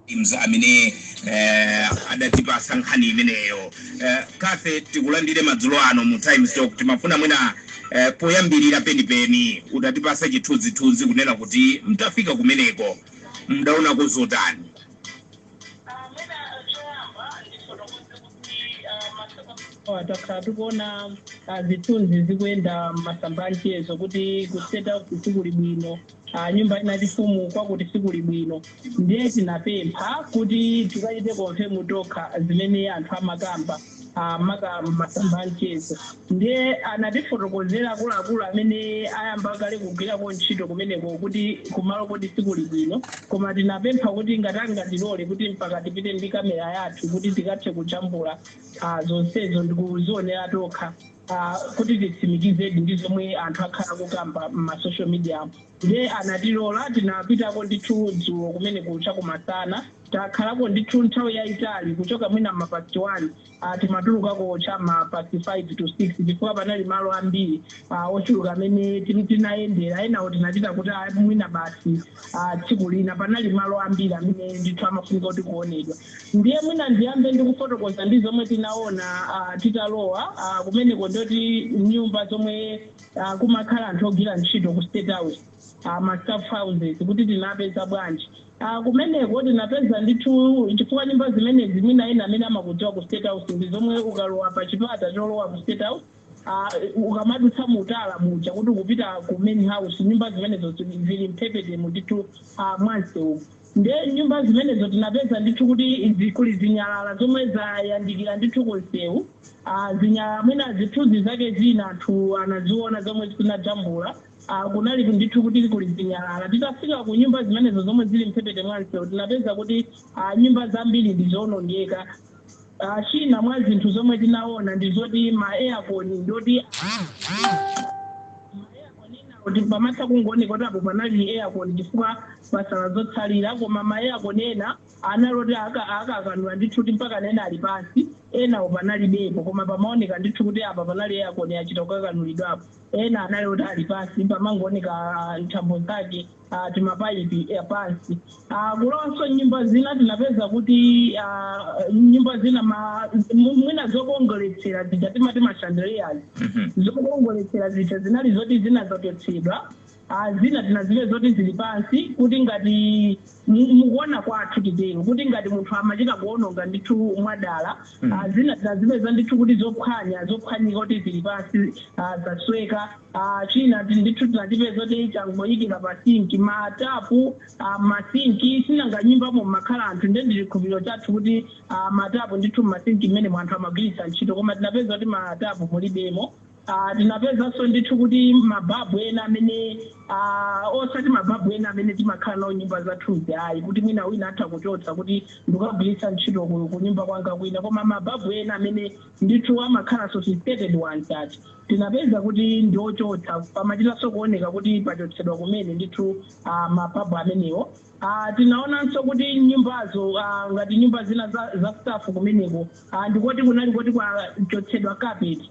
teams amene eh, adatipasa nkhani imeneyo eh, kafe tikulandire madzulo ano mu times talk timafuna mwina eh, poyambirira penipeni mutatipatsa chithunzithunzi kunena kuti mtafika kumeneko mdaona kuzotani takhala tikuona ah, zithunzi zikuyenda mmasamba a mchezo kuti ku state sikuli bwino a nyumba yachifumu kwakuti sikuli bwino ndiye tinapempha kuti tikachite konfemu tokha zimene anthu amakamba ah, maka masamba amchezo ndiye anatifotokozera akuluakulu amene ayamba kale kugwirako ntchito kumeneko kuti kumaloko sikuli bwino koma tinapempha kuti ngati angatilole kuti mpaka tipite ndi kamera yathu kuti tikathe kujambula ah, zonsezo ndikuzionera tokha a kuti titsimikizedi ndi zomwe anthu akhala akukamba mma social media mu nde anatilola tinapitako ndithu dzulo kumeneko cha kumasana takhalako ndithu nthawi yaitali kuchoka mwina mma past 1 a timatulukako cha mma past 5 to 6 chifukwa panali malo ambiri a ochuluka amene tin- tinayendera enawo tinapita kuti a mwina basi ah, tsiku lina panali malo ambiri amene ndithu amafunika kuti kuonedwa ndiye mwina ndiyambe ndi kufotokoza ndi zomwe tinaona ah, titalowa ah, kumeneko ndoti nyumba zomwe ah, kumakhala anthu ogwira ntchito ku state house ah, ma staff houses kuti tinapeza bwanji Ah, kumeneko tinapeza ndithu chifukwa nyumba zimenezi mwina ena amene amakudziwa ku state house ndi zomwe ukalowa pa chipata cholowa ku state house ah, ukamadutsa mu tala muja kuti ukupita ku main house nyumba zimenezo zili zili mphepetemo ndithu ah, mwansewu nde nyumba zimenezo tinapeza ndithu kuti zi- kuli zinyalala zomwe zayandikira ndithu ku msewu ah, zinyalala mwina zithunzi zake zina anthu anaziona zomwe tinajambula Ah, kunali ndithu kuti kuli zinyalala titafika ku nyumba zimenezo zomwe zili mphepete mwa msewu tinapeza kuti ah, nyumba zambiri ndi zoonongeka Ah, china mwa zinthu zomwe tinaona ndi zoti ma aircon ndoti kuti pamatha kungooneka kuti apo panali aircon chifukwa pasala zotsalira koma ma aircon ena anali oti aka- akakanula ndithu kuti mpaka ena ali pansi enawo panalibepo koma pamaoneka ndithu kuti apa panali aircon achita kukakanulidwapo ena anali kuti ali pansi pamangooneka ah, nthambo zake ah, timapaipi eh, pansi Ah, kulowanso nyumba zina tinapeza kuti ah, nyumba zina ma- mu- mwina zokongoletsera zija timati ma chandeliers Mhm. zokongoletsera zija zinali zoti zina zachotsedwa Ah, zina tinazipeza zoti zili pansi kuti ngati mu- mukuona kwathu titero kuti ngati munthu amachita kuononga ndithu mwadala Mm. ah, zina tinazipeza ndithu kuti zophwanya zophwanyika kuti zili pansi ah, zasweka a china ndithu tinachipeza choti changoyikira pa sinki ma tapu a masinki sinanga nyumbamo mmakhala anthu nde ndi chikhulupiriro chathu kuti a matapu ndithu mmasinki mmenemo anthu amagwiritsa ntchito koma tinapeza kuti ma tapu mulibemo a tinapezanso ndithu kuti mababu ena amene a osati mababu ena amene timakhala nawo nyumba zathuzi ayi kuti mwina wina atha kuchotsa kuti ndikagwiritse ntchito ku ku nyumba kwanga kwina koma mababu ena amene ndithu amakhala sophisticated ones ati Tinapeza kuti ndi ochotsa, pamachitanso kuoneka kuti pachotsedwa kumene ndithu a mababu amenewo. a Tinaonanso kuti nyumbazo, a ngati nyumba zina za za staff kumeneko, a ndikoti kunali koti kwachotsedwa carpet,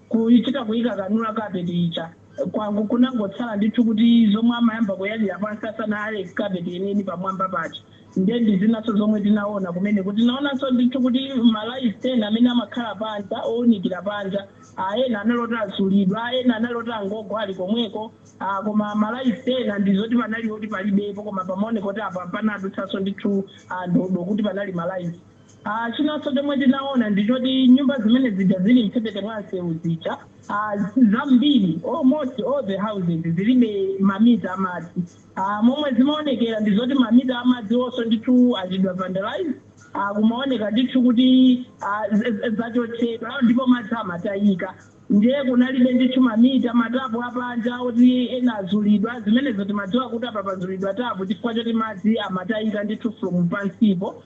kuchita kuikanganula carpet ija, kwango kunangotsala ndithu kuti zomwe amayamba kuyalira pansi asanayale carpet yeniyeni pamwamba paja. Ndiye ndi zinanso zomwe tinaona kumeneko, tinaonanso ndithu kuti malaiti ena amene amakhala panja ounikira panja, ah, ena anali oti azulidwa, ena anali oti angogwa ali komweko, ah, koma malo ena ndi zoti panali oti palibepo koma pamaoneka kuti apa panadutsanso ndithu ah, ndodo kuti panali malaiti. Ah, chinanso chomwe tinaona ndi choti nyumba zimene zija zili mphepete mwa msewu zija ah, zambiri almost all the houses zilibe mamita amadzi a Momwe zimaonekera ndi zoti mamita a madziwonso ndithu achitidwa vandalize, a kumaoneka ndithu kuti a zachotsedwa ndipo madzi amatayika. Ndiye kunalibe ndithu mamita, matapu a panja oti ena azulidwa, zimenezo timadziwa kuti apa pazulidwa tapu chifukwa choti madzi amatayika ndithu from pansipo.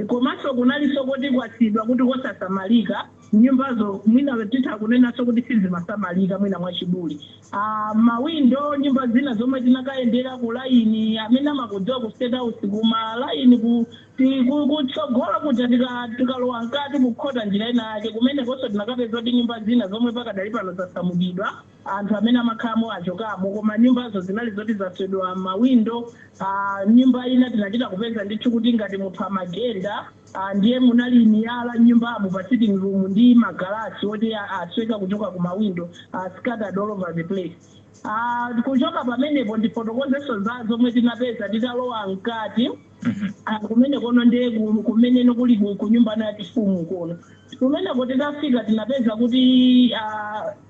Komanso kunalinso koti kwasiidwa kuti kosasamalika, nyumbazo mwina titha kunenanso kuti sizimasamalika mwina mwachidule. Aaa mawindo nyumba zina zomwe tinakayendera ku line amene amakudziwa ku state house ku ma line ku ti ku kutsogolo kuja tika tikalowa mkati kukhota njira ina yake kumenekonso tinakapeza kuti nyumba zina zomwe pakadali pano zasamukidwa Anthu amene amakhalamo achokamo, koma nyumbazo zinali zoti zaswedwa mawindo. a Nyumba ina tinachita kupeza ndithu kuti ngati munthu amagenda, a ndiye munali miyala m'nyumbamo pa sitting room ndi magalasi oti a asweka kuchoka ku mawindo, a scattered all over the place. a Kuchoka pamenepo ndifotokozenso za zomwe tinapeza titalowa mkati. a Kumenekono ndiye ku kumene kuli ku ku nyumba ya chifumu kono. Kumeneko titafika tinapeza kuti a.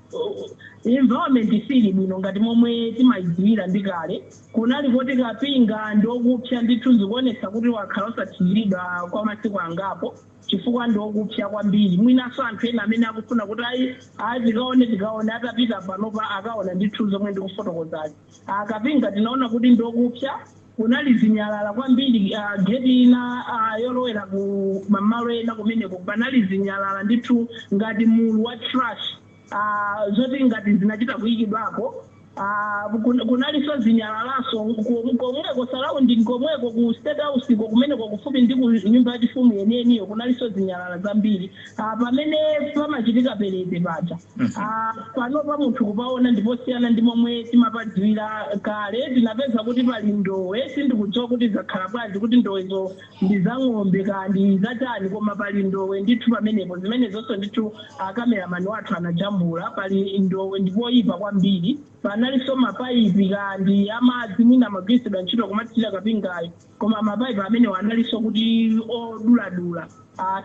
Environment siili bwino ngati momwe timayidziwira ndi kale, kunali koti kapinga ndi okupsa ndithu zikuonetsa kuti wakhala osathiriridwa kwa masiku angapo chifukwa ndi okupsa kwambiri mwinanso anthu ena amene akufuna kuti ayi ayi tikaone tikaone atapita panopa akaona ndithu zomwe ndikufotokozazi. a kapinga tinaona kuti ndi okupsa. Kunali zinyalala kwambiri, a gate ina a yolowera ku mamalo ena kumeneko panali zinyalala ndithu ngati mulu wa trash, a zoti ngati zinachita kuyikidwapo. A kun kunalinso zinyalalanso ko komweko surrounding komweko ku State House ko kumeneko kufupi ndi ku nyumba yachifumu yeniyeniyo kunalinso zinyalala zambiri, a pamene pamachitika perete paja. Mhm. Ah, panopa munthu kupaona ndiposiyana ndi momwe timapadziwira kale tinapeza kuti pali ndowe sindikudziwa kuti zakhala bwanji kuti ndowezo ndi za ng'ombe kaya ndi zachani koma pali ndowe ndithu pamenepo zimenezonso ndithu akameramani athu anajambula pali ndowe ndipoyipa kwambiri panalinso mapayipi kaya ndi amadzi mwina amagwiritsidwa ntchito kumathirira kapingayo Koma mapaipi amenewa analinso kuti oduladula,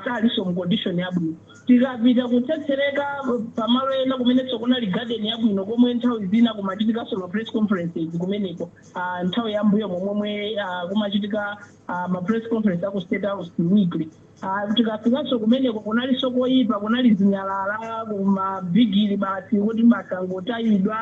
salinso mu condition yabwino. Tikapita kutsetsereka pamalo ena kumenenso kunali garden yabwino komwe nthawi zina kumachitikanso ma press conferences kumeneko, nthawi ya m'mbuyomo momwe kumachitika ma press conference a ku State House weekly. Ah, tikafikanso kumeneko kunalinso koyipa kunali zinyalala kumabigiri basi kuti mwasangotayidwa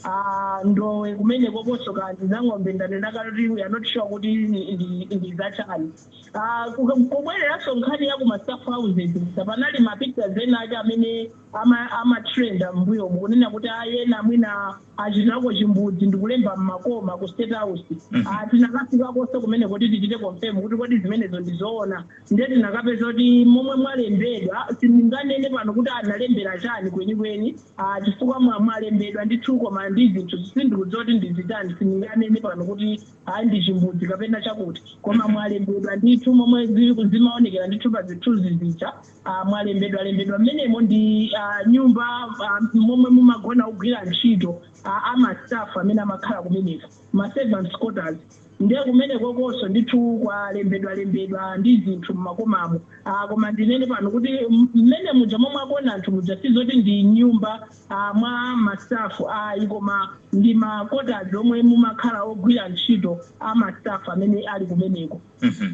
ah, ndowe kumeneko konso kaya ndi za ng'ombe ndanena kale kuti we are not sure kuti ndi- ndi- ndi zachani Ah, ku- kubwereranso nkhani ya ku mastaff houses panali mapictures ena ake amene ama ama trend mmbuyomu kunena kuti ayi ena mwina achitako chimbudzi ndikulemba mmakoma ku state house Ah, tinakafikakonso kumeneko kuti tichite confirm kuti kodi zimenezo ndizoona nde tinakapeza kuti momwe mwalembedwa sindinganene pano kuti analembera chani kwenikweni Ah, chifukwa mwa- mwalembedwa ndithu koma ndi zinthu sindikudziwa kuti ndizitani sindinganene pano kuti ayi ndi chimbudzi kapena chakuti koma mwalembedwa ndithu momwe zi- zimaonekera ndithu pa zithunzi zija ah, mwalembedwa lembedwa mmenemo ndi ah, nyumba ah, momwe mumagona ogwira ntchito ah, amastaff amene amakhala kumeneko ma servants quarters ndiye kumenekokonso ndithu kwalembedwa lembedwa ndi zinthu mmakomamo ah, koma ndinene pano kuti m- mmene muja momwe agona anthu muja sizoti ndi nyumba ah, mwa mastafu ayi koma ndi ma quarters omwe mumakhala ogwira ntchito amastafu amene ali kumeneko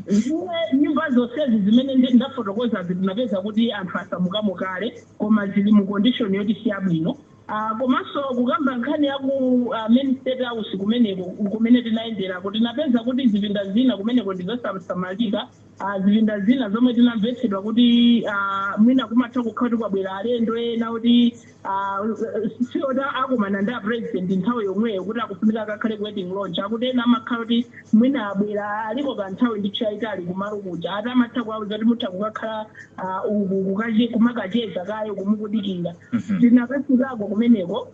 Ndiye nyumba zonsezi zimene ndi- ndafotokozazi tinapeza kuti anthu asamukamo kale koma zili mu condition yoti si yabwino Ah, komanso kukamba nkhani ya ku ah, main state house kumeneko kumene tinayenderako tinapeza kuti zipinda zina kumeneko ndi zosasamalika Ah, zipinda zina zomwe tinamvetsedwa kuti ah, mwina kumatha kukhala kuti kwabwera alendo ena kuti Ah, si oti akumana ndi apresident nthawi yomweyo kuti akufunika akakhale ku waiting lounge akuti ena amakhala kuti mwina abwera aliko kanthawi ndithu yayitali kumalo kuja ati amatha kuwauza kuti mutha kukakhala ah, uku kukache- kumakacheza kaye kumukudikira Mhm. tinakafikako kumeneko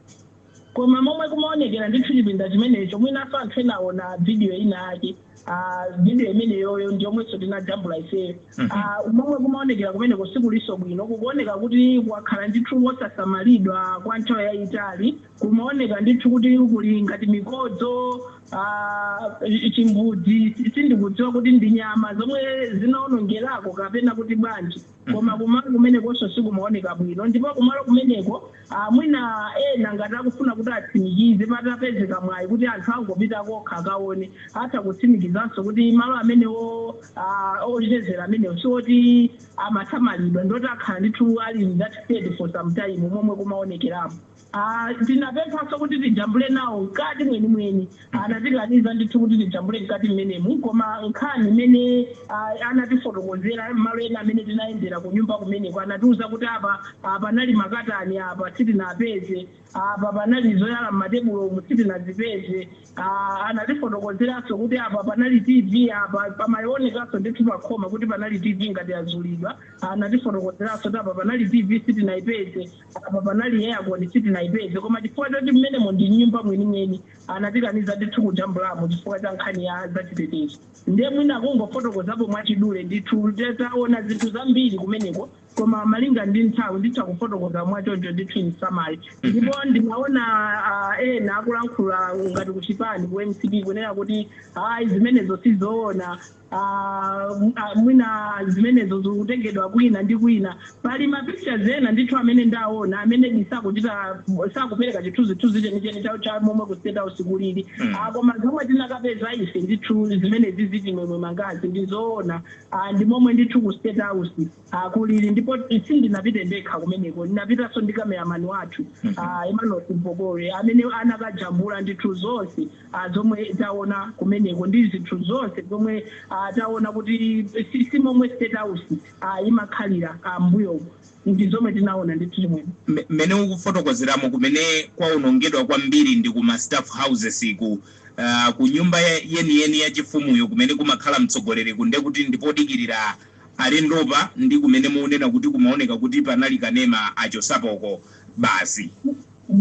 koma momwe kumaonekera ndithu chipinda chimenecho mwinaso anthu enaona vidiyo ina ake ah, video imeneyoyo ndi yomwenso tinajambula ifeyo Mhm. Ah, momwe kumaonekera kumeneko sikulinso bwino kukuoneka kuti kwakhala ndithu wosasamalidwa kwa nthawi yayitali kumaoneka ndithu kuti kuli ngati mikodzo ah, chimbudzi sindikudziwa kuti ndi nyama zomwe zinaonongerako kapena kuti bwanji koma kumalo kumenekonso sikumaoneka bwino ndipo kumalo kumeneko ah, mwina ena ngati akufuna kuti atsimikize patapezeka mwayi kuti anthu angopita kokha akaone atha kutsimikizanso kuti malo amenewo ah, ochezera amenewo sioti amasamalidwa ndoti akhala ndithu ali in that state for some time momwe kumaonekeramo a Tinapemphanso kuti tijambule nawo mkati mwenimweni. Anatikaniza ndithu kuti tijambule mkati mmenemu koma nkhani imene a anatifotokozera malo ena amene tinayendera kunyumba kumeneko anatiuza kuti apa a panali makatani apa sitinapeze, apa panali zoyala m'matebulo umu sitinazipeze, a anatifotokozeranso kuti apa panali TV apa pamaonekanso ndithu pakhoma kuti panali TV ngati yazulidwa, anatifotokozeranso kuti apa panali TV sitinaipeze. apa panali aircon sitinaipeze koma chifukwa choti mmenemo ndi nyumba mwenimweni anatikaniza ndithu kujambulamo chifukwa cha nkhani ya zachitetezo nde mwina kungofotokozapo mwachidule ndithu nde taona zinthu zambiri kumeneko koma malinga ndi nthawi nditha kufotokoza mwachoncho ndithu in summary ndipo ndinaona ah, ena akulankhula ngati kuchipani ku mcp kunena kuti ayi zimenezo sizoona uh, mwina zimenezo zikutengedwa kwina ndi kwina pali mapictures ena ndithu amene ndaona amene sakuchita sakupereka chithunzithunzi chenicheni cha- cha momwe ku state house kulili Mm. Ah, koma zomwe tinakapeza ife ndithu zimene zili m'ma image-zi ndizoona Ah, ndi momwe ndithu ku state house a kulili ndipo sindinapite ndekha kumeneko ndinapitanso ndi kameramani wathu a emmanuel simpokolwe amene anakajambula ndithu zonse a zomwe taona kumeneko ndi zinthu zonse zomwe a taona kuti si- si momwe state house a imakhalira a m'mbuyomu ndi zomwe tinaona ndithu chimwene M- mmene ukufotokozeramo kumene kwaonongedwa kwambiri ndi kuma staff houses ku uh, ku nyumba ya- yeniyeni ya chifumuyo kumene kumakhala mtsogoleriku nde kuti ndi podikirira alendopa ndi kumene muunena kuti kumaoneka kuti panali kanema achosapoko basi.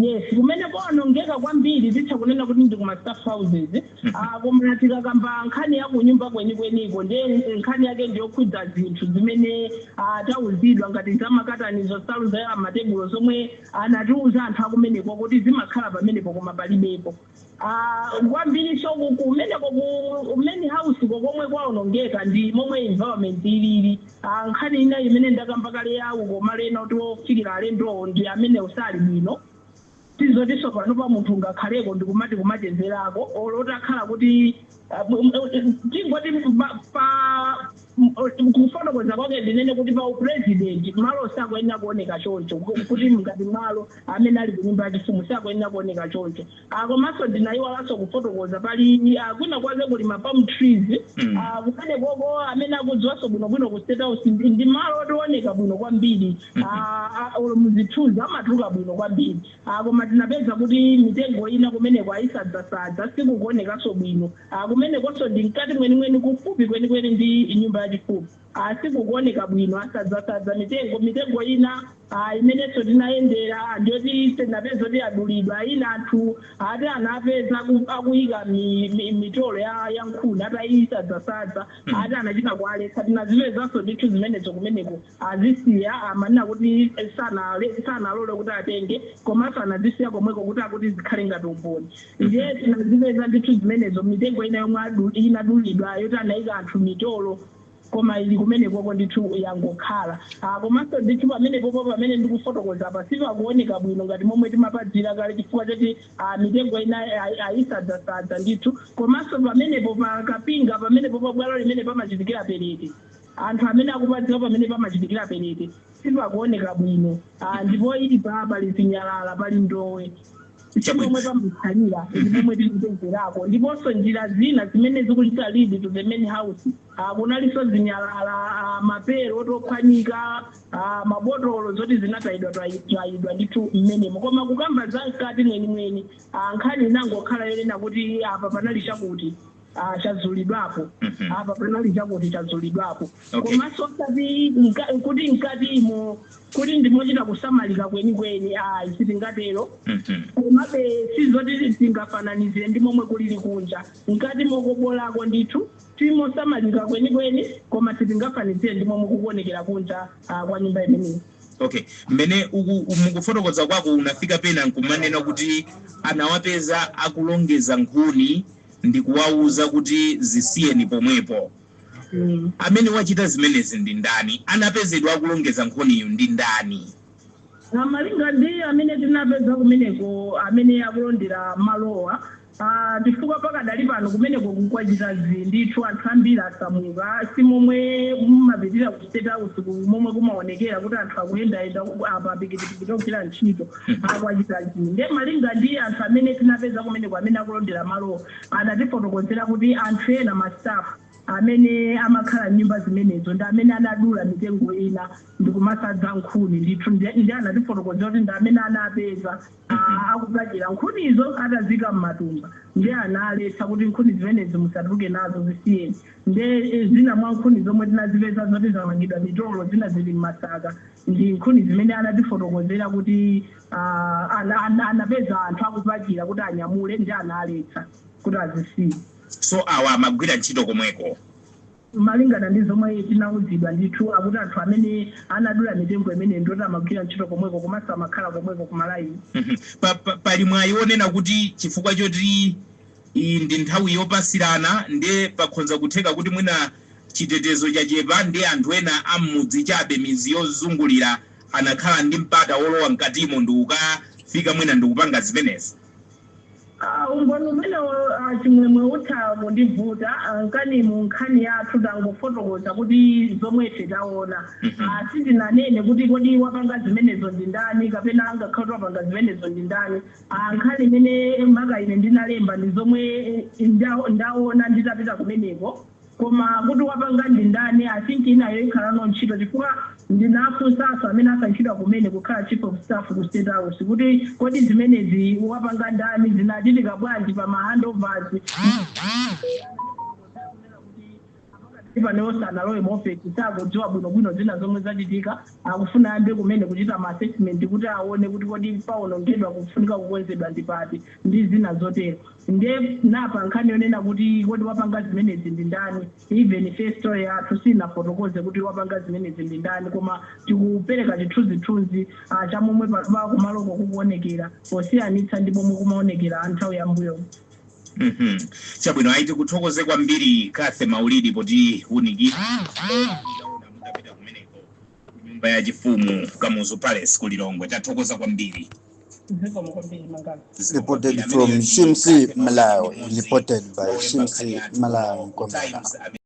Yes kumene kwaonongeka kwambiri zitha kunena kuti ndi ku ma staff houses aah koma tikakamba nkhani ya kunyumba kwenikweniko ndiye nkhani yake ndi yokhudza zinthu zimene aah tauzidwa ngati za makatanizo, nsalu zoyala mmatebulo zomwe anatiuza anthu akumeneko kuti zimakhala pamenepo koma palibepo. Aaa kwambilinso ku kumeneko ku main house ko komwe kwaonongeka ndi momwe environment ilili aah nkhani ina imene ndakamba kale ya uko malo ena oti ofikila alendowo ndi amenewo sali bwino si zotinso panopa munthu ungakhaleko ndikumati kumachezelako olo utakhala kuti tingoti pa kufotokoza kwake ndinene kuti pa upresident malo sakuyenera kuoneka choncho kuti ngati malo amene ali kunyumba yachifumu sakuyenera kuoneka choncho Ah, komanso ndinayiwalanso kufotokoza pali ah, kwina kwake kuli ma palm trees Mm. Ah, kumene koko amene akudziwanso bwinobwino ku state house ndi ndi malo oti ooneka bwino kwambiri Ah, ah, olo muzithunzi amatuluka bwino kwambiri a Koma tinapeza kuti mitengo ina kumeneko ayisadzasadza, sikukuonekanso bwino. a Kumenekonso ndi mkati mwenimweni, kufupi kwenikweni ndi nyumba yachifumu. a Sikukuoneka bwino, asadzasadza mitengo. Mitengo ina a imenenso tinayendera a ndi yoti tinapeza kuti yadulidwa. Ina anthu ati anapeza aku akuyika mi mi mitolo ya ya nkhuni atayisadzasadza, ati anachita kuwaletsa. Tinazipezanso ndithu zimenezo kumeneko. azisiya amanena kuti sanale sanalole kuti atenge komanso anazisiya komweko kuti akuti zikhale ngati umboni ndiye tinazipeza ndithu zimenezo mitengo ina yomwe adu- inadulidwa yoti anayika anthu mitolo koma ili kumenekoko ndithu yangokhala Ah, komanso ndithu pamenepopo pamene ndikufotokoza apa sipakuoneka bwino ngati momwe timapadziwira kale chifukwa choti ah, mitengo ina ayi- ayisadzasadza ndithu komanso pamenepo pa kapinga pamenepo pa bwalo limene pamachitikira perete Anthu amene akupadziwa pamene pamachitikira perete sipakuoneka bwino ah ndi poipa pali zinyalala, pali ndowe. Simomwe pamakhalira ndi pomwe timapezerako ndiponso njira zina zimene zikuchita lead to the main house. Ah kunalinso zinyalala ah mapero oti ophwanyika ah mabotolo zoti zinatayidwa tayidwa ndithu mmenemo. Koma kukamba za mkati mwenimweni ah nkhani inangokhala yonena kuti apa panali chakuti. Ah, chazulidwapo Mhm. apa panali chakuti chazulidwapo Okay. komanso osati mka- kuti mkatimo kuti ndimochita kusamalika kwenikweni ayi sitingatero Mhm. komabe sizoti tingafananizire ndi momwe kulili kunja mkatimo kobolako ndithu ndimosamalika kwenikweni koma sitingafananizire ndi momwe kukuonekera kunja ah, kwa nyumba imeneyi okay mmene uku- mukufotokoza kwako unafika pena nkumanena kuti anawapeza akulongeza nkhuni ndi kuwauza kuti, Zisiyeni pomwepo! Amene wachita zimenezi ndi ndani? Anapezedwa akulongeza nkhuniyo ndi ndani? Malinga ndi amene tinapeza kumeneko, amene akulondera malowa, a chifukwa pakadali pano kumeneko kukuchita zii ndithu, anthu ambiri asamuka, si momwe mumapitira ku State House ku momwe kumaonekera kuti anthu akuyendayenda apa pikitipikiti ogwira ntchito. kwachita zii nde malinga ndi anthu amene tinapeza kumeneko amene akulondera malowo anatifotokozera kuti anthu ena ma staff amene amakhala m'nyumba zimenezo ndi amene anadula mitengo ina ndikumasadza nkhuni ndithu ndi ndi anatifotokozera kuti ndi amene anapeza ah, akupachira nkhunizo atazika m'matumba ndi analetsa kuti nkhuni zimenezi musatuluke nazo zisiyeni nde eh, zina mwa nkhuni zomwe tinazipeza zoti zamangidwa mitolo zina zili m'masaka ndi nkhuni zimene anatifotokozera kuti uh, an, an, anapeza anthu akupachira kuti anyamule ndi analetsa kuti azisiye so awa amagwira ntchito komweko malingana ndi zomwe tinauzidwa ndithu akuti anthu amene anadula mitengo imene ndoti amagwira ntchito komweko komanso amakhala komweko kumalaini Mhm. Pa- pa- pali mwayi onena kuti chifukwa choti Iyi ndi nthawi yopasirana nde pakhonza kutheka kuti mwina chitetezo chachepa nde anthu ena a mmudzi chabe midzi yozungulira anakhala ndi mpata wolowa mkatimo ndikukafika mwina ndikupanga zimenezi. Aaa umboni umenewo a Chimwemwe utha kundivuta a nkhani mu nkhani yathu tangofotokoza kuti zomwe ife taona a sitinanene kuti kodi wapanga zimenezo ndi ndani kapena angakhale kuti wapanga zimenezo ndi ndani. a Nkhani imene maka ine ndinalemba ndi zomwe ndaona nditapita kumeneko koma kuti wapanga ndi ndani i think inayo ikhalano ntchito chifukwa ndinafunsaso amene asankhidwa kumene kukhala chief of staff ku state house kuti kodi zimenezi wapanga ndani zinachitika bwanji pa ma handovers Ipane iwo sanalowe mu ofesi, sakudziwa bwinobwino zina zomwe zachitika. Akufuna ayambe kumene kuchita ma assessment kuti awone kuti kodi paonongedwa, pofunika kukonzedwa ndi pati ndi zina zotero. Nde na pa nkhani yonena kuti kodi wapanga zimenezi ndi ndani, even ife story yathu sinafotokoze kuti wapanga zimenezi ndi ndani koma tikupereka chithunzithunzi a cha momwe panopa kumaloko kukuonekera posiyanitsa ndi momwe kumaonekera nthawi ya m'mbuyomu. Uhmm chabwino ayi tikuthokoze kwambiri Cathy Maulidi potiwunikira taona mutapita kumeneko ku nyumba ya chifumu Kamuzu Palace ku Lilongwe tathokoza kwambiri. Zikomo kwambiri Mangala. Reported from Shimsi, Malawi. Reported by Shimsi, Malawi. Kwamana.